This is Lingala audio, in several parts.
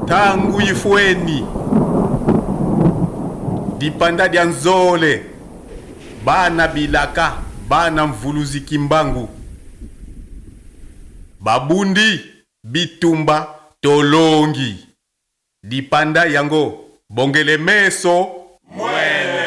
Tangu ifueni dipanda dia Nzole, bana bilaka, bana mvuluzi Kimbangu babundi bitumba tolongi dipanda yango bongele meso mwele.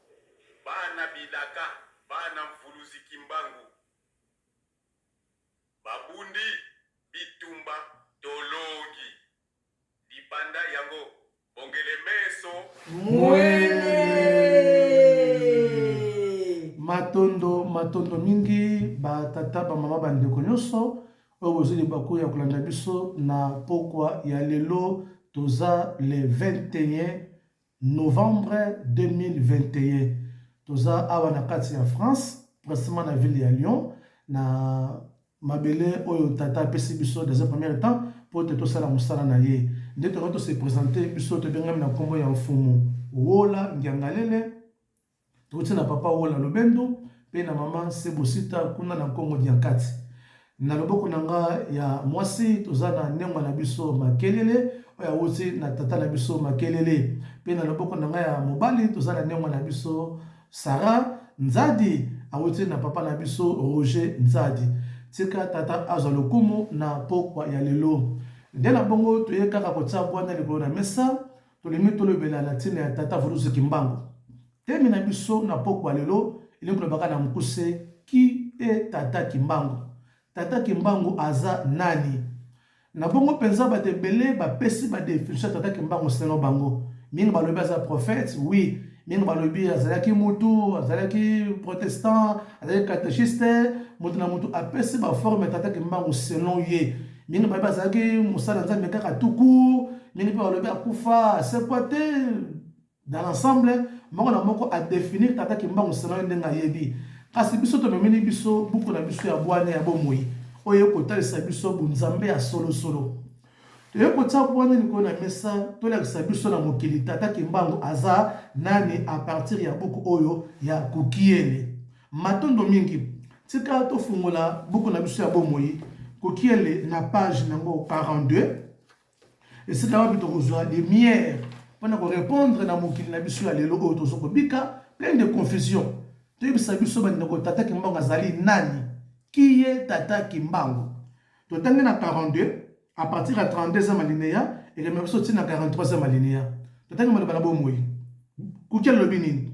Bana bilaka, bana mvuluzi kimbangu babundi bitumba tolongi libanda yango bongele meso mwele matondo matondo mingi batata bamama bandeko nyonso oyo bozwi libaku ya kolanda biso na pokwa ya lelo toza le 21 Novembre 2021 toza awa na kati ya France precisement na ville ya Lyon na mabele oyo tata apesi biso dans un premier temps mpo ete tosala mosala na ye nde tokoki tose presente biso tobengami na nkombo ya mfumu Wola Ngiangalele Touti na papa Wola Lobendo mpe na mama Sebosita kuna na Nkongo Diankati. Na loboko na nga ya mwasi toza na nengwa na biso Makelele oyo awuti na tata na biso Makelele, mpe na loboko na nga ya mobali toza na nengwa na biso Sara Nzadi awuti na papa na biso Roger Nzadi. Tika tata azwa lokumu na pokwa ya lelo. Nde na bongo toye kaka kotia bwanya likolo na mesa. Tolingi tolobela na ntina ya tata Vuruzi Kimbangu. Teme na biso na pokwa lelo elingi kolobaka na mokuse ki e tata Kimbangu. Tata Kimbangu aza nani? Na bongo mpenza bato ebele bapesi ba definition ya tata Kimbangu selon bango. Mingi balobi aza prophète, oui. Mingi balobi azalaki mutu, azalaki protestant, azalaki catechiste. Moto na moto apesi ba forme ya tata Kimbangu selon ye. mingi bayebi azalaki mosala nzambe kaka tuku mingi mpe balobi akufa asekwa te dans l'ensemble moko na moko adefinir tata kimbangu senani ndenge ayebi kasi biso tomemeli biso buku na biso ya bwania ya bomoi oyo ekotalisa biso bonzambe ya solosolo toyei kotya bwania likolo na mesa tolakisa biso na mokili tata kimbangu aza nani a partir ya buku oyo ya kukiele Matondo mingi. Tika tofungola buku na biso ya bomoi kokiele na page nango 42 esika wapi tokozwa lumière mpo na korepondre na mokili na biso ya lelo oyo tozo kobika plein de confusion toyebisa biso bandeko tata kimbangu azali nani kiye tata kimbangu totangi na 42 à partir ya 32e alinéa ekemela biso ntina 43e alinéa totangi maloba na bomoi kuki alobi nini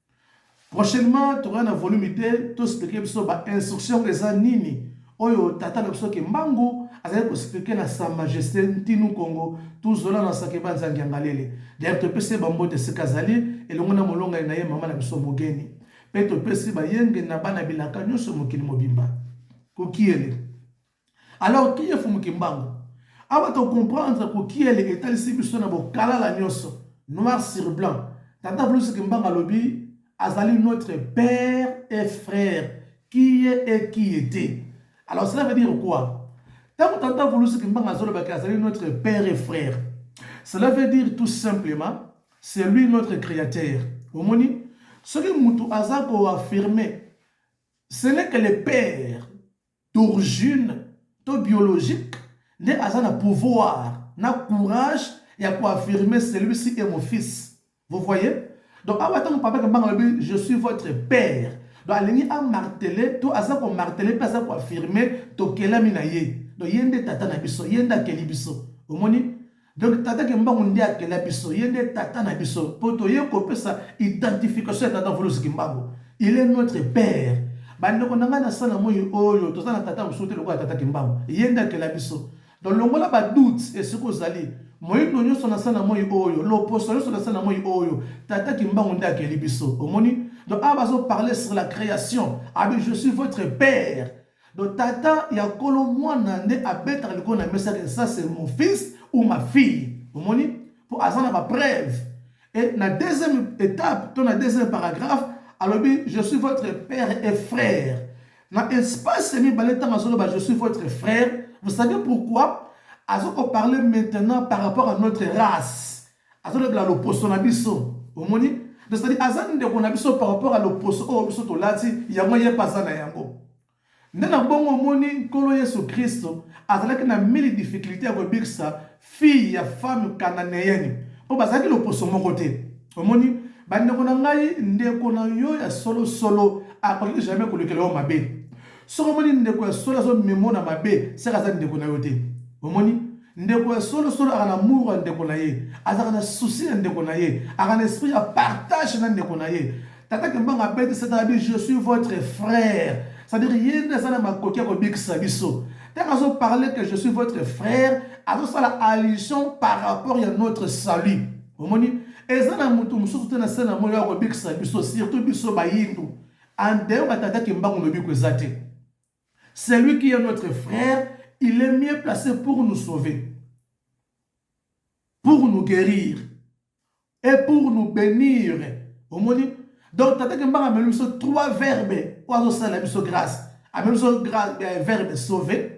Prochainement tokoya na volume te to expliquer biso ba instructions eza nini oyo tata na biso Kimbangu azali ko expliquer na sa majesté Ntinu Kongo Tuzola na Sakeba Nzangi Angalele. D'ailleurs topesi ye ba mbote esika azali elongo na molongani na ye mama na biso Mogeni mpe topesi bayenge na bana bilaka nyonso mokili mobimba. Kokiele. Alors qui est Fumu Kimbangu? Awa to comprendre ko kiele etalisi biso na bokalala nyonso noir sur blanc. Tata Fulus Kimbangu alobi azali notre père et frère qui est et qui était. Alors cela veut dire quoi? Tango Tata Fulus Kimbangu azoloba que azali notre père et frère. Cela veut dire tout simplement c'est lui notre créateur. Omoni? Soki mutu aza ko affirmer ce n'est que le père d'origine to biologique nde aza na pouvoir na courage ya ko affirmer celui-ci est mon fils. Vous voyez? Donc awa tango papa Kambanga alobi je suis votre père. Donc alingi a marteler to aza ko marteler mpe aza ko affirmer tokelami na ye. Donc ye nde tata na biso, ye nde akeli biso. Omoni? Donc Tata Kimbangu nde akela biso, ye nde Tata na biso po toye kopesa identification ya Tata Mvuluzi Kimbangu. Il est notre père. Ba ndeko na ngai na se na moyi oyo, toza na Tata mosusu te lokola Tata Kimbangu. Ye nde akela biso. Donc longola ba doutes esika ozali, moyindo nyoso na se na moyi oyo, loposo nyoso na se na moyi oyo, Tata Kimbangu nde akeli biso. Omoni? Donc awa bazo parler sur la creation, alobi je suis votre père. Donc tata ya kolo mwana nde abetaka likolo na mesa que ça c'est mon fils ou ma fille. Omoni? Po aza na ba preuves. Et na deuxième étape to na deuxième paragraphe alobi je suis votre père et frère. Na espace mibale ntango azoloba je suis votre frère, vous savez pourquoi? Azoko parler maintenant par rapport à notre race. Azolobela loposo na biso. Omoni? Cest aza ndeko na biso par rapport à loposo oyo biso tolati, yango ye mpe aza na yango. Nde na bongo omoni Nkolo Yesu Kristo azalaki na mili difficulté ya kobikisa fille ya femme cananéenne mpo bazalaki loposo moko te. Omoni? Bandeko na ngai, ndeko na yo ya solo solo akoki jamais kolukela yo mabe. Soki omoni ndeko ya solo azo memo na mabe, seka aza ndeko na yo te. Omoni? Ndeko ya solo solo aka na mur ya ndeko na ye, azaka na souci na ndeko na ye, aka na esprit ya partage na ndeko na ye. Tata Kimbangu abeti sete abi je suis votre frère. C'est-à-dire ye nde aza na makoki ya kobikisa biso. Tango azo parler que je suis votre frère, azo sala allusion par rapport ya notre salut. Omoni? Eza na mutu mususu te na se na moyi oyo akobikisa biso, surtout biso bayindu. And d'ailleurs ba tata kimbangu lobiko eza te. Celui qui est notre frère, il est mieux placé pour nous sauver. Pour nous guérir et pour nous bénir. Omoni donc tata kimbangu ameli biso trois verbes oyo azosala biso grâce ameli biso verbe sauver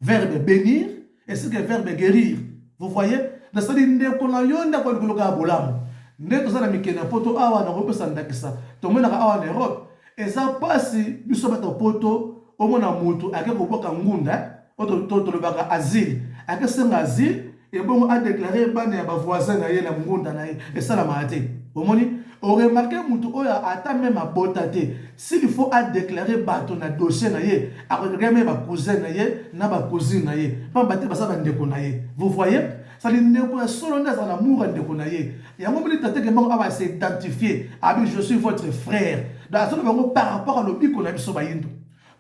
verbe benir ainsi que verbe guerir vous voyez nasali ndeko na yo ndako ya likolo kaka bolamu nde toza na mikili na poto awa nakopesa ndakisa tomonaka awa na europe eza mpasi biso bato ya poto omona motu ake kobwaka ngunda oyo tolobaka asile akesenga asile ebongo a deklare bana ya bavoisin na ye na ngunda na ye esalamaka te omoni oremarke motu oyo ata meme abota te s'il faut adeklare bato na dossier na ye akodeklare meme bacousin na ye na bacousine na ye pamba te baza bandeko na ye vous voyez sali ndeko ya solo nde azala mour ya ndeko na ye yango moni tate kembango awa se identifie abi je suis votre frère donc azoloba yango par rapport ya lobiko na biso bayindo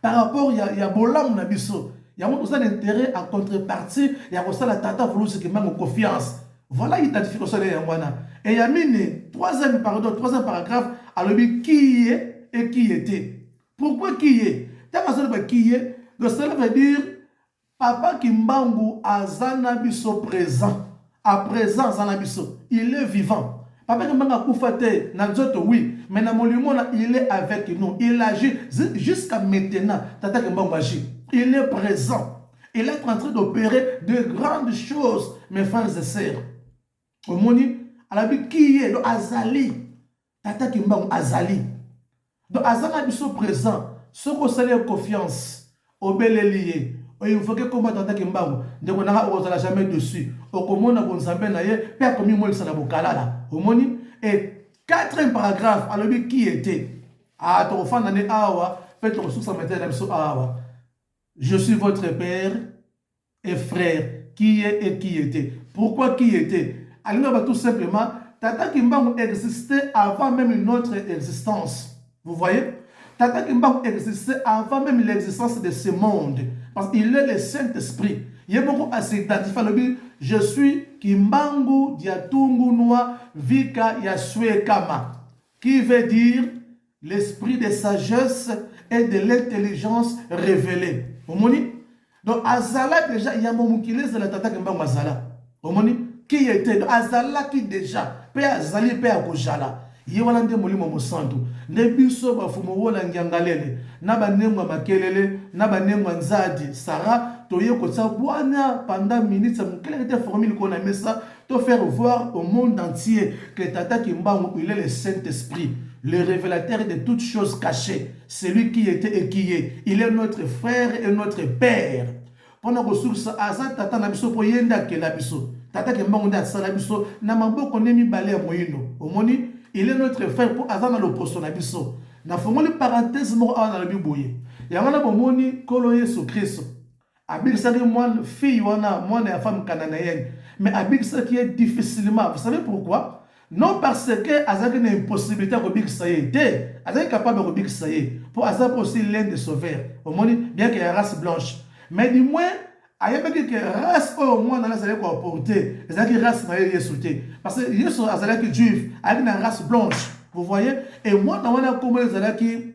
par rapport ya, ya bolamu na biso yango toza na intérêt en contrepartie ya kosala tata vulusi kimbangu confiance voilà identification ya yango wana e ya mine troisième pardon troisième paragraphe alobi kiye ekiye te pourquoi kiye ntango azoloba kiye le cela veut dire Papa kimbangu aza n'a biso present à present aza n'a biso il est vivant papa kimbangu akufa te n'a nzoto oui mais n'a molimo n'a il est avec nous il agit jusqu'à maintenant tata kimbangu agit il est present il est en train d'opérer de grandes choses mes frères et sœurs omoni alobi kiye azali Tata kimbangu azali donc aza na biso present soki osali ye confiance obeleli ye o invoke kombo ya tata kimbangu ndeko na nga okozala jamais dessus okomona bonzambe na ye pe akomimonisa na bokalala omoni e quatrième paragraphe alobi qui était ah tokofanda nde awa pe tokosukisa mateya na biso awa je suis votre père et frère qui est et qui était pourquoi qui était alinga ba tout simplement tata kimbangu existait avant même notre existence vous voyez tata kimbangu existait avant même l'existence de ce monde parce qu'il est le saint esprit ye moko asidentifie alobi je suis kimbangu diatungunua vika ya suekama qui veut dire L'esprit de sagesse et de l'intelligence revelee. Omoni? Donc azala deja yambo mokili ezala tata Kimbangu azala. Omoni? Qui était? Donc azalaki deja pe azali pe akozala. Ye wana nde Molimo Mosantu. Nde biso bafumu wola ngiangalele na banengwa makelele na banengwa nzadi Sarah toye kotia bwania pendant minutes ya mokelekete formule kona mesa to faire voir au monde entier que Tata Kimbangu il est le Saint-Esprit, le révélateur de toutes choses cachées, celui qui était et qui est, il est notre frère et notre père. Pona kosukisa aza tata na biso po yende akela biso. Tata Kimbangu nde asala biso na maboko ne mibale ya moyindo. Omoni? Il est notre frère po aza na loposo na biso. Nafungoli parenthèse moko awa nalobi boye. Yango na bomoni Nkolo Yesu Kristo abikisaki mwana fille wana mwana ya femme cananéenne mais abikisaki ye difficilement vous savez pourquoi non parce que azalaki na impossibilité ya kobikisa ye te azalaki capable ya kobikisa ye mpo aza mpe aussi l'un de sauveur omoni bien que ya race blanche mais du moins ayebaki ke race oyo mwana wana azalaki koaporte ezalaki race na ye yesu te parce que yesu azalaki juif ayaki na race blanche vous voyez e mwana wana nkombo ezalaki